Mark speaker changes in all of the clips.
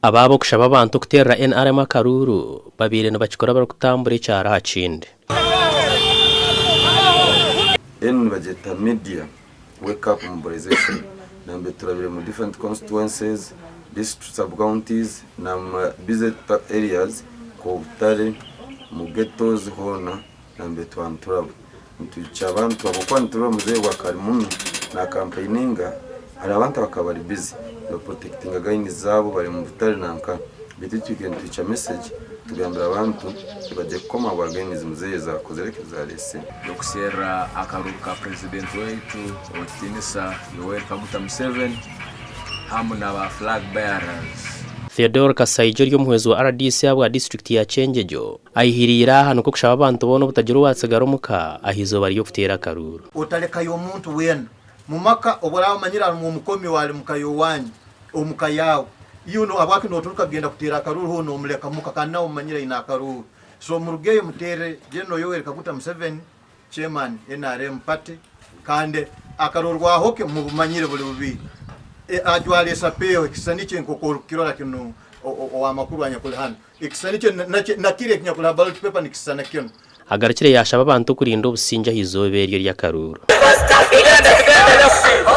Speaker 1: Aba ab'okushaba abantu okuteerera nrm akaruuru babaire nibakikora barikutambura ekyaro aha kindi.
Speaker 2: Enu nibagyeta media wake up mobilization nambe turabire mu different constituencies, district sub counties na busy areas nka obutare, mu ghettos hoona. nambe twaba nituraba nitwikya abantu ahabw'okuba nitureeba omuzeeyi ogwo akaba ari muno naakampaininga hariho abantu abakaba bari bize nibapurotekitinga gaini zaabo bari omu butare nanka beitu itwe twikaire nitwikya meseegi tugambira abantu ngu bagye kukoma ahabwa gaini ezi muzeeyi ezaakozire eki zaareetsire. Tukusherura
Speaker 3: akaruru ka Purezidenti waitu Ow'ekitiinisa Yoweri Kaguta Museveni hamu na ba Flag Bearers. Theodore
Speaker 1: Kasaija ori omuhwezi wa rdc ahabwa disiturikiti ya Kyengegyo. Aihirire aha nikwo kushaba abantu boona obutagira owatsigara omu ka aha izooba ry'okuteera akaruuru. Otarekayo omuntu
Speaker 4: weena mu maka obu oraabe omanyire harimu omukomi owaali mu ka y'owaanyu, omu ka yaawe. Yoona owaabwaki nooturuka kugenda kuteera akaruuru hoona omuleka muka kandi naawe omumanyire aine akaruuru? So murugeyo muteere General Yoweri Kaguta Museveni, Chairman, nrm party kandi akaruuru bwahoke mubumanyire buri bubi. Ajwara esapeeho, ekisisani kye nk'oku orikukirora kinu ow'amakuru anyakuli hanu. Ekishushani ekyo nakiri eki nyakureeba ballot paper nikishushana kinu. Agarukire yaashaba
Speaker 1: abantu kurinda obusingye aha izooba eryo ery'akaruuru.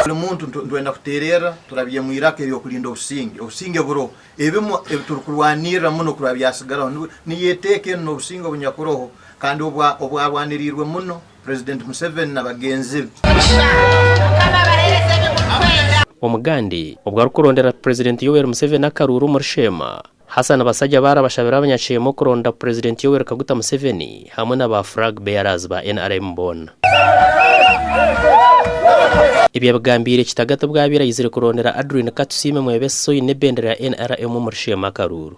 Speaker 1: Buri
Speaker 4: muntu nitwenda kuteererra turabye omu iraka ery'okurinda obusingye. Obusingye buriho. Ebimwe ebi turikurwanirira muno kuraba byatsigaraho niryo eteeka eri n'obusingye obunyakuroho kandi obwarwaniriirwe muno Purezidenti Museveni na bagenzi be.
Speaker 1: Omugande obu arikuronderera Purezidenti Yoweri Museveni akaruuru omuri Sheema, Hassan Basajja baarabashabira abanyakyema okuronda Purezidenti Yoweri Kaguta Museveni hamwe na ba Frag Bearers ba nrm boona. Ebi abigambiire kitagata obu abaire ayizire kurondera Adrine Katusiime mwebembezi oine ebendera ya nrm omuri Sheema Karuuru.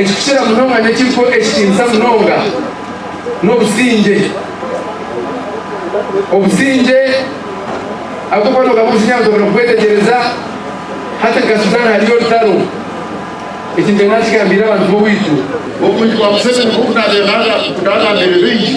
Speaker 5: ekikukira munonga n'ekiriho ekitiinisa munonga n'obusingye. Obusingye ahabw'okuba noogaruka omusingye abantu babura kukwetegereza, hati nka Sudan hariyo orutaro, eki nikyo naakigambiire abantu b'owaitu. Obuhikwa
Speaker 6: Museveni bw'okunabera naagambiire baingi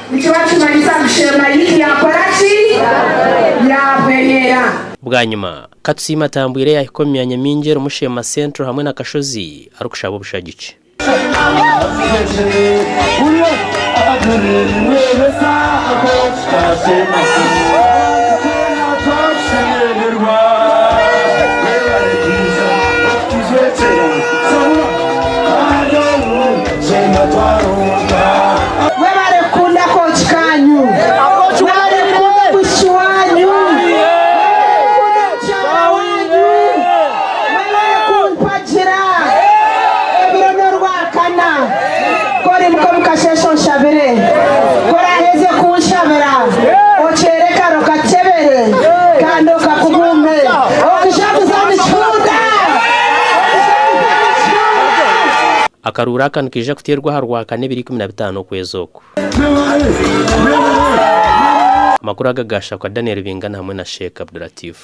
Speaker 7: Nikiba nikimanyisa ngu sheema yaitu yaakora ki? Yaahwereera. Bwanyima, ka
Speaker 1: tusiime atambwire yaahika omu myanya mingi erimu Sheema Central hamwe na Kashozi arikushaba obushagiki. Mwebale kukunda akooki kaanyu. Mwebale kukunda omwishiki waanyu. Mwebale kukunda mukyara waanyu. Mwebale kumpagira. Ebiro n'orwakana. Ku orimuka omu kasheeshe onshabire. Ku oraaheze kunshabira, okyeere karo kakyebere kandi okakugume. Okija kuza nikihunda. Okija kuza nikihunda. Akaruuru aka nikaija kuteerwa aha Rwakana ebiro ikumi na bitaano okwezi oku. Amakuru aga ga Shakwa Daniel Bingana hamwe na Sheikh Abdulatif.